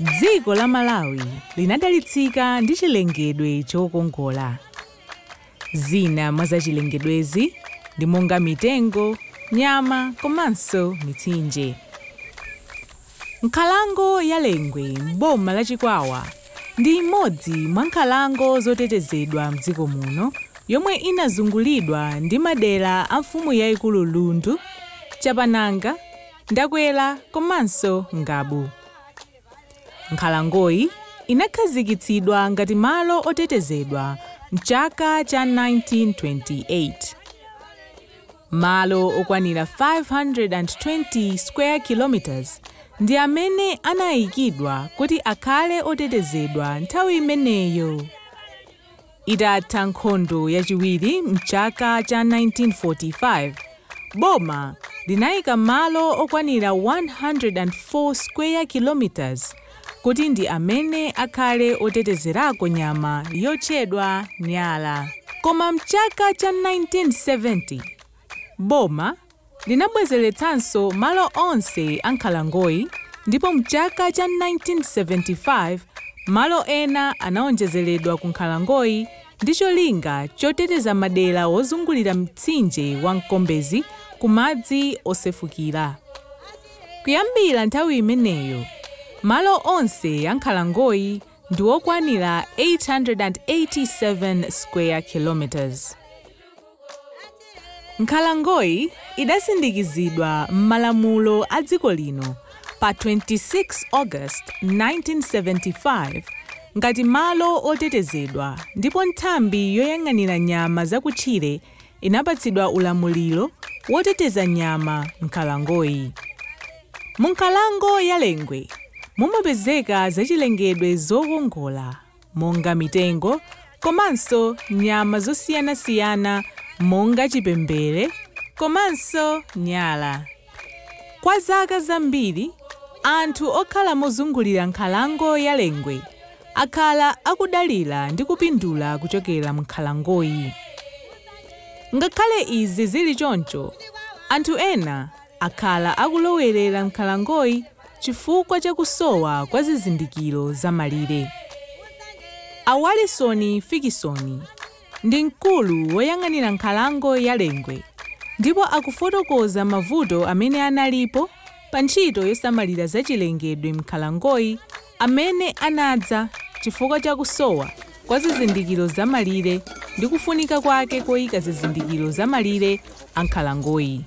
Dziko la Malawi linadalitsika ndi chilengedwe chokongola. Zina mwa zachilengedwezi ndi monga mitengo, nyama komanso mitsinje. Nkhalango ya Lengwe m'boma la Chikwawa ndi imodzi mwa nkhalango zotetezedwa m'dziko muno yomwe inazungulidwa ndi madera a mfumu yaikulu Lundu, Chapananga, Ndakwera komanso Ngabu. Nkhalangoyi inakhazikitsidwa ngati malo otetezedwa m'chaka cha 1928. Malo okwanira 520 square kilometres ndi amene anayikidwa kuti akhale otetezedwa nthawi imeneyo. Itatha nkhondo yachiwiri m'chaka cha 1945, boma linayika malo okwanira 104 square kilometres kuti ndi amene akhale otetezerako nyama yotchedwa Nyala. Koma m'chaka cha 1970, boma linabwezeretsanso malo onse a nkhalangoyi ndipo m'chaka cha 1975 malo ena anawonjezeredwa ku nkhalangoyi ndi cholinga choteteza madera wozungulira mtsinje wa Mkombezi ku madzi osefukira. Kuyambira nthawi imeneyo, malo onse a nkhalangoyi ndi okwanira 887 square kilometres. Nkhalangoyi idasindikizidwa m'malamulo a dziko lino pa 26 August 1975 ngati malo otetezedwa ndipo nthambi yoyang'anira nyama zakutchire inapatsidwa ulamuliro woteteza nyama m'nkhalangoyi. Munkhalango ya Lengwe mumapezeka zachilengedwe zokongola monga mitengo komanso nyama zosiyanasiyana monga chipembere komanso nyala. Kwa zaka zambiri, anthu okhala mozungulira nkhalango ya Lengwe akhala akudalira ndi kupindula kuchokera munkhalangoyi. Ngakhale izi zili choncho, anthu ena akhala akulowerera m'nkhalangoyi chifukwa cha kusowa kwa zizindikiro za malire. A Walisoni Fikisoni. ndi mkulu woyang'anira nkhalango ya Lengwe ndipo akufotokoza mavuto amene analipo pa ntchito yosamalira zachilengedwe m'nkhalangoyi amene anadza chifukwa cha kusowa kwa zizindikiro za malire ndi kufunika kwake koyika zizindikiro za malire a nkhalangoyi.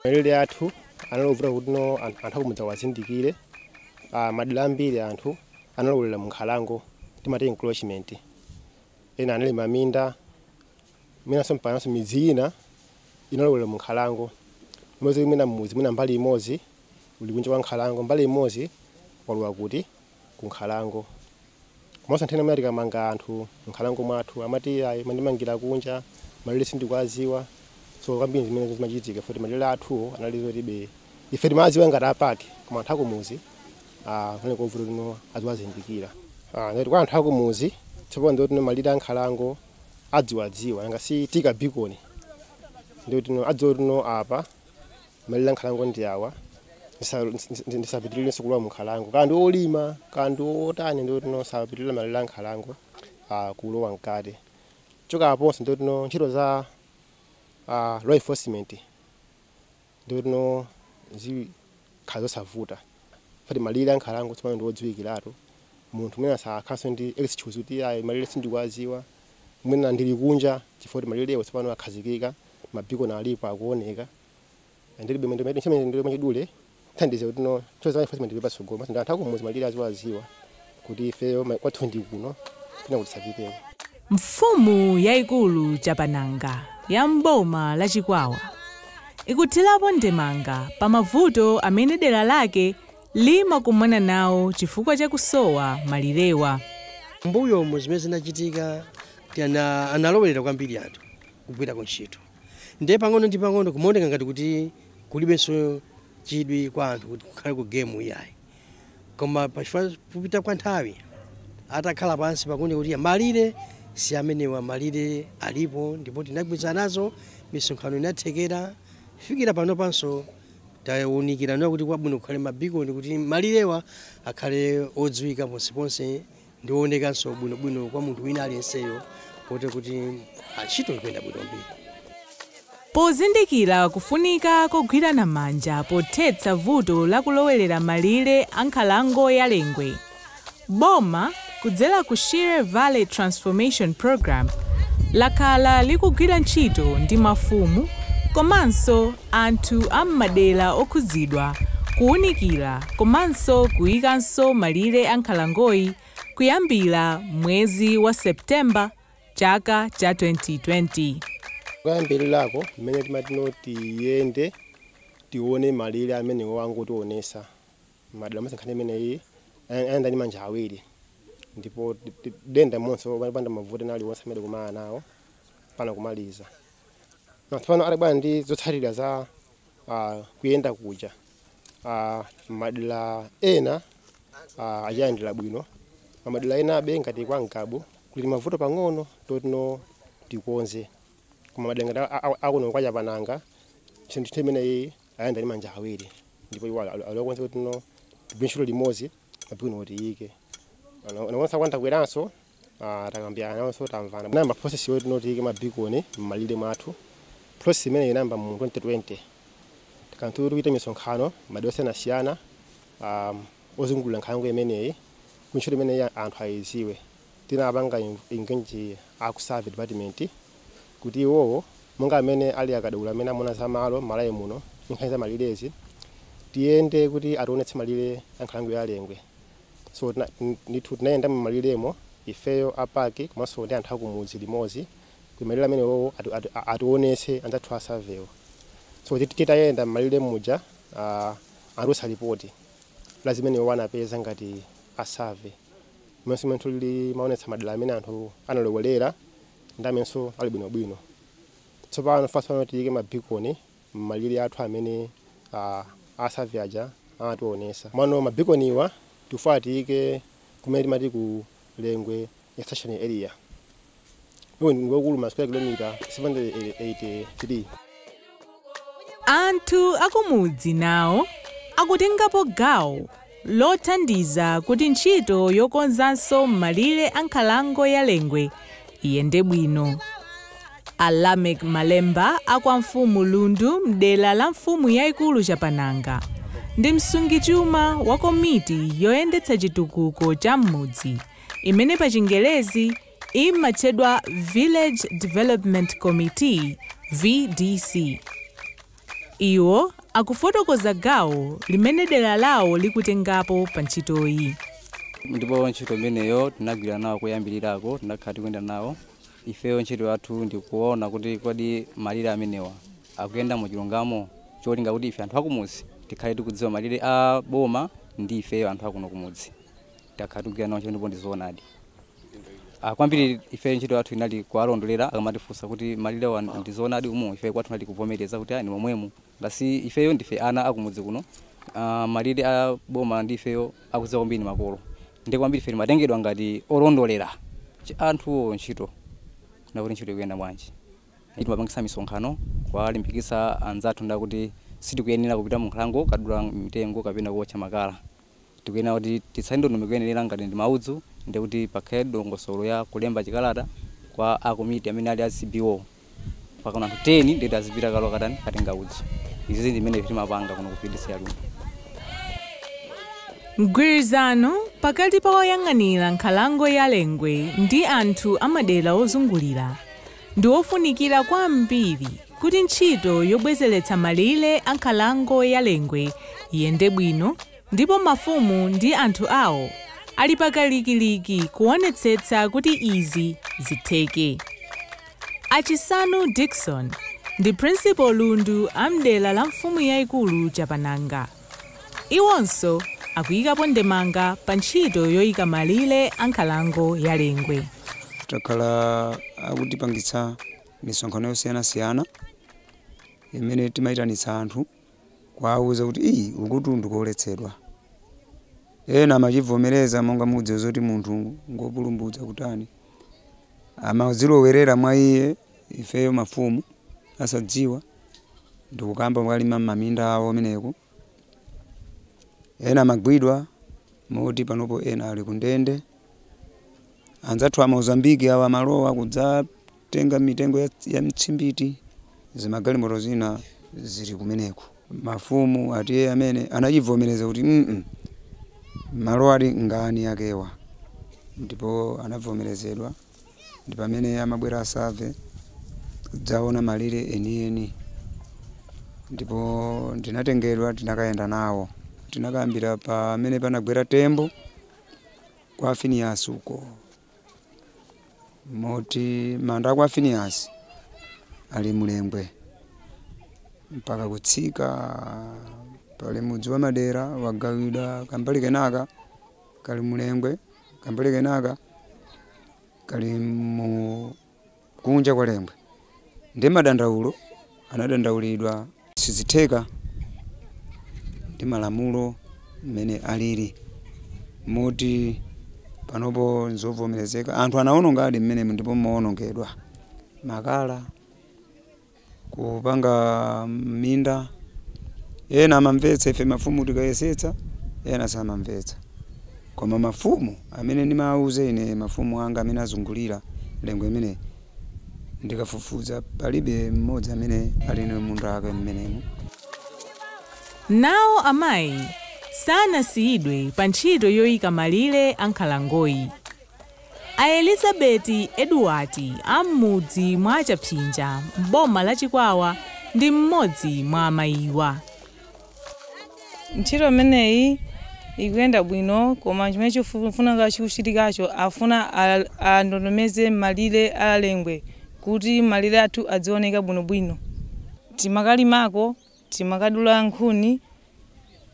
Malire athu anali ovuta kuti no anthu akumudzi awazindikire. Madera ambiri anthu analowerera mu nkhalango, timati encroachment. Ena analima minda, mwinanso mpakanso midzi ina inalowera mu nkhalango. Umapeza kuti mwina mudzi mwina mbali imodzi uli kunja kwa nkhalango, mbali imodzi walowa kuti? Ku nkhalango. Komanso nthawi zina mwina tikamanga anthu m'nkhalango mwathu, amati ayi mandimangira kunja, malire sindikuwaziwa. So kwambiri zimene zimachitika foti malire athuwo analipo zoti be ife timawaziwa ngati a park koma anthu akumudzi Ah, kunali kovuta kuti no aziwazindikira Ah, ngati kwa anthu akumuzi tsopano ndiye kuti no malire ankhalango adziwadziwa nanga si taika bikoni ndiye kuti no adziwa kuti no apa malire ankhalango ndi awa ndisa- ndis- ndis- ndisapitirirenso kulowa munkhalango kaya ndi olima kaya ndi otani ndiye kuti no sapitirira malire ankhalango ah, kulowa mkati choka aponso ndiye kuti no ntchito za ah, law enforcement Ndiye kuti no zikhala zosavuta foti malire a nkhalango tsopano ndi odziwikiratu. Munthu mwina sakhalanso ndi excuse kuti iyayi malire sindikuwadziwa. Mwina ndili kunja chifukwa kuti malirewo tsopano akhazikika, mabikoni alipo akuoneka. Ndiye kuti ndime- ntchito imeneyi mwachidule ithandize kuti no ntchito za enforcement zipite patsogolo. Komanso ndi anthu akumudzi malire aziwadziwa. kuti ifeyo ma- kwathu ndi kuno pena kuti sapiteko Mfumu yaikulu Chapananga ya m'boma la Chikwawa ikuthirapo ndemanga pa mavuto amene dera lake limakumana nawo chifukwa cha kusowa malirewa. m'mbuyomu zimene zinachitika nti ana- analekerera kwambiri anthu kugwira ku ntchito ndiye pang'ono ndi pang'ono kumaoneka ngati kuti kulibenso chidwi kwa anthu kuti kukhale ku gemu iyayi Koma pachifukwa kupita kwa nthawi atakhala pansi pakuunika kuti malire si amenewa, malire alipo ndipo tinagwirizana nazo, misonkhano inathekera kufikira panopanso taunikirana kuti kwabwino kukhale mabikoni kuti malirewa akhale odziwika ponseponse ndi oonekanso bwinobwino kwa munthu wina aliyenseyo kotero kuti ah, ntchito ikuyenda bwinobwino Pozindikira kufunika kogwirana manja pothetsa vuto la kulowerera malire a nkhalango ya Lengwe, boma kudzera ku Shire Valley Transformation Program lakhala likugwira ntchito ndi mafumu komanso anthu a m'madera okhudzidwa, kuwunikira komanso kuyikanso malire a nkhalangoyi kuyambira mwezi wa September chaka cha 2020. Koyambilirako mmene timati tiyende tiwone malire amenewo angotiwonesa madera onse nkhani imeneyi ayilandira ndi manja awiri ndipo tidayenda monse opanda mavuto ena aliwonse amene tidakumana nawo mpana kumaliza. tsopano atabwera ndi zotsatira za ah, kuyenda kuja ah, madera ena ah, anachilandira bwino madera enabe ngati kwa Ngabu kuli mavuto pang'ono totino tikonze koma madera ngati a- a- akuno kwa Chapananga chinthu chimenechi achilandira ndi manja awiri ndipo iwo ali okonzeka kutino tigwire ntchito limodzi bwino kuti tiyike mabikoni athawa kubweranso Ah, takambirana nawonso tamvana tinayamba process yoti tiyike mabikoni m'malire mwathu process imene inayamba mu 2020 tinakhala tikuchita misonkhano madera osiyanasiyana um, ozungulira nkhalango imeneyi kuti ntchito imeneyi anthu ayiziwe tinapanga en- engage aku survey department kuti iwowo monga amene ali akadaulo amene amona za malo m'Malawi muno nkhani za malirezi tiyende kuti ationetse malire a nkhalango ya Lengwe So tina, ndithu tinayenda m'maliremo ifeyo a park komanso ndi anthu akumudzi limodzi kuti malire amenewowo ati, ati, a- atiwonetse anzathu a surveywo so tit- titayenda m'malire muja uh, anatulutsa lipoti la zimene iwo anapeza ngati a survey momwenso ndithu limaonetsa madera amene anthu analowerera ndi amenenso ali bwinobwino tsopano phase pano tiyike mabikoni mmalire athu amene a a survey aja amationesa. Komano ma beaconiwa tikufuna tiike kumene timati ku Lengwe extension area. Uwu ndi mlingo waukulu ma square kilometre 783. Anthu akumudzi nawo akutengapo gawo lothandiza kuti ntchito yokonzanso m'malire a nkhalango ya Lengwe iyende bwino. A Lameck Malemba a kwa mfumu Lundu m'dera la mfumu yaikulu Chapananga ndi msungichuma wa komiti yoyendetsa chitukuko cha m'mudzi imene pa chingerezi imatchedwa Village Development Committee, VDC. Iwo akufotokoza gawo limene dera lawo likutengapo pa ntchitoyi. Ndipo ntchito imeneyo tinagwira nawo koyambirirako, tinakhala tikuyenda nawo. Ifeyo ntchito yathu ndi kuona kuti kodi malire amenewa akuyenda mu chilungamo cholinga kuti ife anthu akumudzi tikhale tikudziwa malire a boma ndi ifeyo anthu akuno kumudzi. takhala tikugwira nawo ntchito ndipo ndi zoonadi Ah, kwambiri ife ntchito yathu inali kuwalondolera akamatifunsa kuti malire awa ndi zoonadi umu ife kwathu kunali kuvomereza kuti ayi ndi momwemu ngati ifeyo ndife ana akumudzi kuno ah, malire a boma ndi ifeyo akudziwa kwambiri makolo ndi kwambiri ife timatengedwa ngati olondolera Ch- anthuwo ntchito nakuti ntchito ikuyenda bwanji Ife timapangisa misonkhano kuwalimbikitsa anzathu nakuti sitikuyenera kupita mu nkhalango kukadula mitengo kapena kuotcha makala tikuyenera kuti titsate ndondomeko yoyenelera ngati ndi maudzu ndiye kuti pakhale dongosolo ya kulemba chikalata kwa a komiti amene ali a CBO pakakwana anthu 10 ndiye kuti azipita kalo katani katenga udzu izizi ndi mmene ife timapanga kuno ku VDC ya Lundu. Mgwirizano pakati pa oyang'anira nkhalango ya Lengwe ndi anthu amadera ozungulira ndi wofunikira kwambiri kuti ntchito yobwezeretsa malire a nkhalango ya Lengwe iyende bwino ndipo mafumu ndi anthu awo ali pakalikiliki kuonetsetsa kuti izi zitheke. A Chisanu Dickson ndi Principal Lundu a m'dera la mfumu yaikulu Chapananga. Iwonso akuyikapo ndemanga pa ntchito yoyika malire a nkhalango ya Lengwe. Takhala tikupangitsa misonkhano yosiyanasiyana imene timayitanitsa anthu kuwawuza kuti ii ukutu nkoletsedwa. Ena amachivomereza monga mukudziwa zoti munthu ngopulupudza kutani. Amazilowerera mwa iye ifeyo mafumu osadziwa. ndikukayamba kumalima m'maminda awo kumeneko. Ena amagwidwa moti panopo ena ali kundende. Anzathu a Mozambique awa amalowa kudzatenga mitengo ya, ya mitsimbiti zimagalimoto zina zili kumeneko. Mafumu athu amene anachivomereza kuti mm malo ali ngaeni akewa ndipo anavomerezedwa. ndi pamene anabwera a survey kudzaona malire enieni ndipo ndinatengedwa tinakayenda nawo tinakayambira pamene panagwera tembo kwa Finiyasi uko moti manda akwa Finiyasi ali mu Lengwe mpaka kutsika pali mudzi wa Madera wagawidwa kambali kenaka kali mu Lengwe Kambali kenaka kali mu kunja kwa Lengwe ndi madandaulo anadandaulidwa. Sizitheka ndi malamulo mmene alili moti panopo n'zovomerezeka. Anthu anawonongadi mmenemu ndipo munawonongedwa makala. kupanga m'minda ena amamvetsa ife mafumu tikayesetsa ena samamvetsa koma mafumu amene ndimawauza ine mafumu anga amene azungulira Lengwe imene ndikafufuza palibe mmodzi amene ali ndi munda ake mmenemu Nawo amayi sanasiyidwe pa ntchito yoika malire a nkhalangoyi. A Elizabeti Edward a m'mudzi mwa Chapsinja m'boma la Chikwawa ndi m'modzi mwa amayiwa. Ntchito imeneyi ikuyenda bwino koma chimene chifuna chikuchitikacho afuna andondomeze malire a Lengwe kuti malire athu adzioneka bwinobwino. Timakalimako. Timakadula nkhuni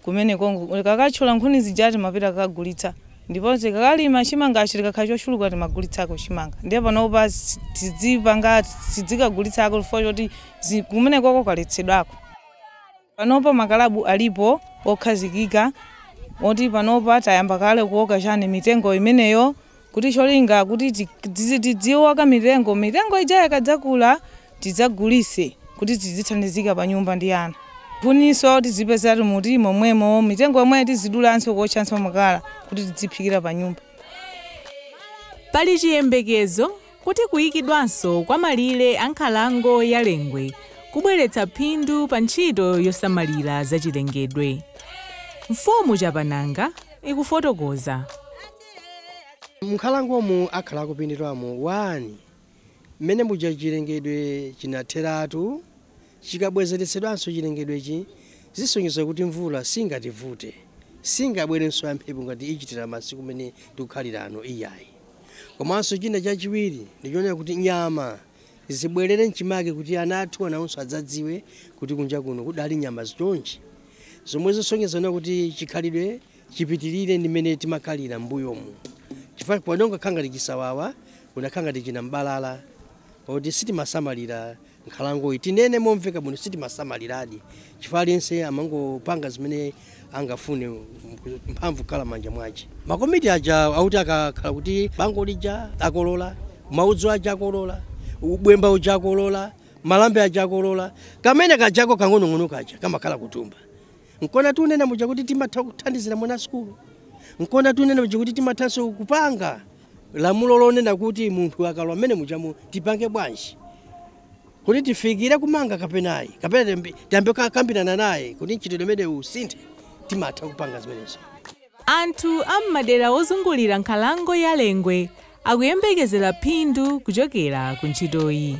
kumeneko. Tikakatchola nkhuni zija timapita kukagulitsa ndipo tikakalima chimangachi tikakhala chochuluka timagulitsako chimanga. Ndiye panopa tidzipanga tidzikagulitsako chifukwa choti kumeneko kwaletsedwako. Panopa makalabu alipo okhazikika moti panopa tayamba kale kuoka chani mitengo imeneyo kuti cholinga kuti tidziwoka mitengo mitengo ija ikadzakula tidzagulise kuti tidzithandizika pa nyumba ndi ana kuniso tizipezamo mu timomwemo mitengo yomwe tizidulanso kuotchanso makala kuti tidziphikira pa nyumba. Pali chiyembekezo kuti kuyikidwanso kwa malire a nkhalango ya Lengwe kubweretsa phindu pa ntchito yosamalira zachilengedwe. Mfumu Chapananga ikufotokoza. M'nkhalangomu akhala akupindulamo 1 Mmene muja chilengedwe chinatheratu Chikabwezeretsedwanso chilengedwechi Zisonyeza kuti mvula singativute Singabwerenso yamphepo ngati ichitira Masiku mmene tikukhalira ano Iyayi Komanso china chachiwiri ndi chonena kuti nyama Zibwerere m'chimake kuti ana athuwa nawonso adzadziwe kuti kunja kuno kudali nyama zichonchi Zomwe zisonyeza kunena kuti chikhalidwe chipitirire ndi mmene timakhalira m'mbuyomu chifukwa kuno kunakhala ngati chisawawa kunakhala ngati chinambalala poti sitimasamalira nkhalangoyi tinene momveka bwino sitimasamaliradi chifukwa aliyense amangopanga zimene angafune mphamvu kukhala manja mwace makomiti aja auti akakhala kuti bango lija akolola mauzu aja akolola bwemba uja akolola malambe aja akolola kamene kajako kang'onong'ono kaja kamakhala kuthumba Nkona tunena muja kuti timatha kuthandizira mwana sukulu, nkona tunena muja kuti timathanso kupanga lamulo lonena kuti munthu akalowa mmene mujamu tipange bwanji kuti tifikire kumanga kapenayi kapena tiyambe takambirana naye kuti mchitidwe umenewu usinthe timatha kupanga zimenezo. Anthu a m'madera ozungulira nkhalango ya Lengwe akuyembekezera phindu kuchokera ku ntchitoyi.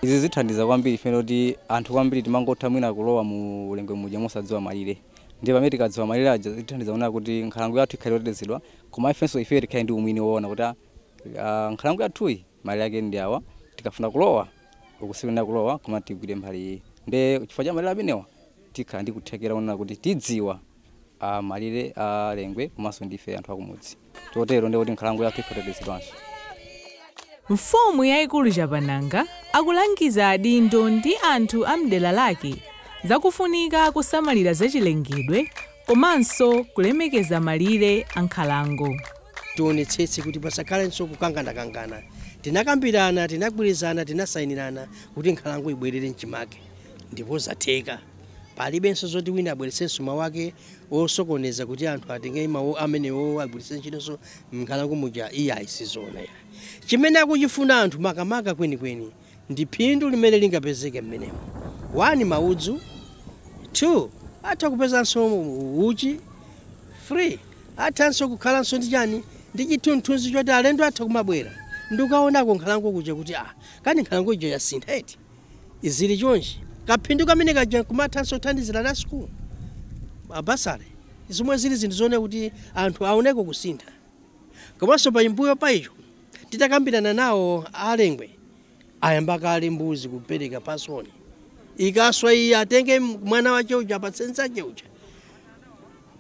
Izi zithandiza kwambiri chifukwa choti anthu kwambiri timangotha mwina kulowa mu Lengwe muja mosadziwa malire ndiye pamene tikadziwa malire aja zitithandiza kunena kuti nkhalango yathu ikhale yotetezedwa komanso ifeyo tikhale ndi umwini woona kuti aah nkhalango yathuyi malire ake ndi awa tikafuna kulowa uku sikuyenera kulowa koma tigwire mbali iyi ndiye chifukwa cha malire amenewa tikhala ndi kuthekera konena kuti tidziwa malire a Lengwe komanso ndi ife anthu akumudzi chotero ndiye kuti nkhalango yathu ikhala yotetezedwanso. Mfumu yaikulu Chapananga akulangiza adindo ndi anthu a m'dera lake za kufunika kusamalira zachilengedwe komanso kulemekeza malire a nkhalango. Tionetsetse kuti pasakhalenso kukanganakangana. Tinakambirana, tinagwirizana, tinasayinirana kuti nkhalango ibwerere m'chimake ndipo zatheka. Palibenso zoti wina abweretsenso mawu ake osokoneza kuti anthu atenge mawu amenewowo agwiritse ntchitonso m'nkhalango muja, iyayi si zoona iyayi. Chimene akuchifuna anthu makamaka kwenikweni ndi phindu limene lingapezeke mmenemo. 1 maudzu 2 atha kupezanso uchi 3 athanso kukhalanso ndi chani, ndi chithunzithunzi choti alendo atha kumabwera ndi kukaonako nkhalango kuja kuti aah, kani nkhalango ija yasintha eti? zili chonchi, kaphindu kamene kaja kumathanso kuthandizira ana a sukulu, ma bursary, zomwe zili zinthu zooneka kuti anthu aoneko kusintha. Komanso paimbuyo pa icho, titakambirana nawo a Lengwe ayamba kale mbuzi kupereka pasoni. Ikaswa iyi atenge mwana wache uja apatse nzache uja.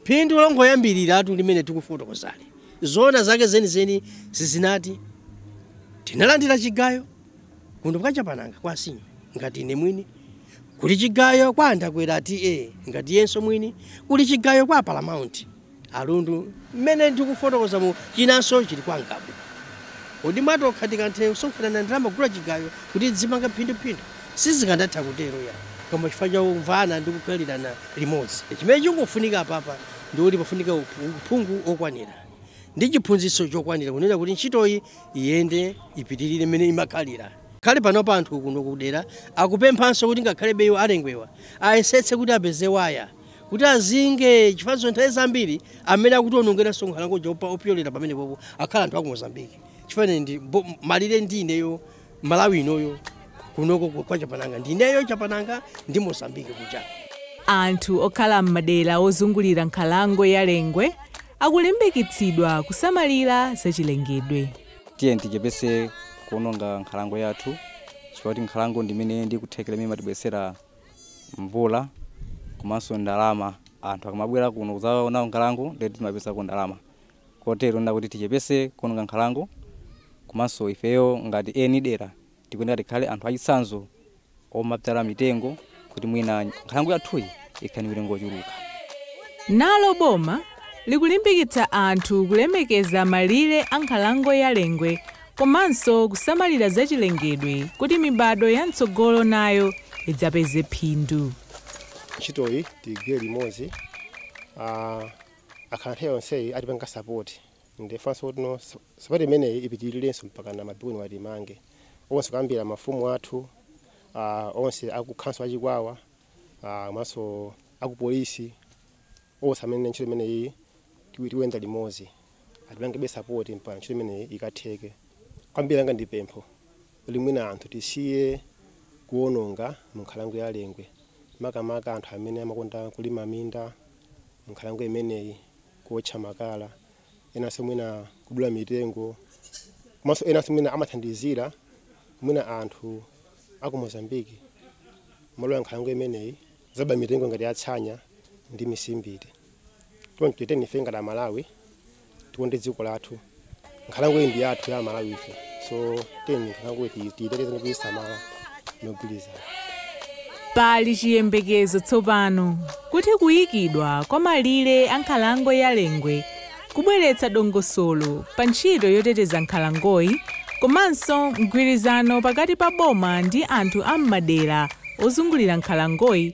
Phindu longoyambiriratu limene tikufotokozali. Zoona zake zenizeni izi inati. Tinalandira chigayo. kuno kwa chapananga kwa a Senior ngati ine mwini kuli chigayo kwa a Ndakwera TA ngati iyenso mwini kuli chigayo kwa Paramount a Lundu mmene ndikufotokozamu chinanso chili kwa ngabu kodi mwatokha tikanatha kusonkhanana ndalama kugula chigayo kuti tizimanga phinduphindu sizikanatha kutero iyayi koma chifukwa cha kumvana ndi kukhalirana limodzi chimene chingofunika apapa ndikuti pafunika uphungu okwanira ndi chiphunzitso chokwanira kunena kuti ntchitoyi iyende ipitirire mmene imakhalira kale panopa anthu kuno kudera akupemphanso kuti ngakhalebe iwo a Lengwewa ayesetse kuti apeze waya kuti azinge chifukwanso nthawi zambiri amene akutionongeranso nkhalango ija opyolera pamenepopo akhala anthu aku Mozambique chifukwa ine ndi bo- malire ndi ineyo malawi inoyo kunoko ku- kwa chapananga ndineyo chapananga ndi mozambique kuja anthu okhala m'madera ozungulira nkhalango ya lengwe akulimbikitsidwa kusamalira zachilengedwe tiyeni tichepese kuononga nkhalango yathu chifukwa kuti nkhalango ndimene ndikuthekera imene imatibweresera mvula komanso ndalama anthu akamabwera kuno kuzaona nkhalango nde kuti timapezako ndalama kotero nde kuti tichepese kuononga nkhalango komanso ifeyo ngati eni dera tikuyenera tikhale anthu achitsanzo omabzala mitengo kuti mwina nkhalango yathuyi ikhale ndi mitengo yochuluka. Nalo boma likulimbikitsa anthu kulemekeza malire a nkhalango ya Lengwe komanso kusamalira zachilengedwe kuti mibadwo ya mtsogolo nayo idzapeze phindu. Ntchitoyi tigwire limodzi. akhala nthawi yonseyi atipanga support ndifunanso kuti support imeneyi ipitililenso mpakana ma bikoni wa timange onse kuyambila mafumu athu uh, onse aku council achikwawa uh, nawonso aku police onse amene ntchito imeneyi tiwi- tiwenda limozi atipangebe support mpaka ntchito imeneyi ikatheke kwambiri anga ndi pempho kuti mwina anthu tisiye kuononga mu nkhalango ya lengwe makamaka anthu amene amakonda kulima minda m'nkhalango imeneyi, kuotcha makala, enanso mwina kudula mitengo, komanso enanso mwina amathandizira mwina anthu a ku Mozambique kulowa nkhalango imeneyi kuzaba mitengo ngati ya tsanya ndi mitsimbiti. Choncho tiyeni ife ngati Amalawi tikonde dziko lathu nkhalango iyi ndi yathu ya malawi ife so tiyeni nkhalango iyi tiyiteteze ndi kuyisamala mogwirizana pali chiyembekezo tsopano kuti kuyikidwa kwa malire a nkhalango ya lengwe kubweretsa dongosolo pa ntchito yoteteza nkhalangoyi komanso mgwirizano pakati pa boma ndi anthu a m'madera ozungulira nkhalangoyi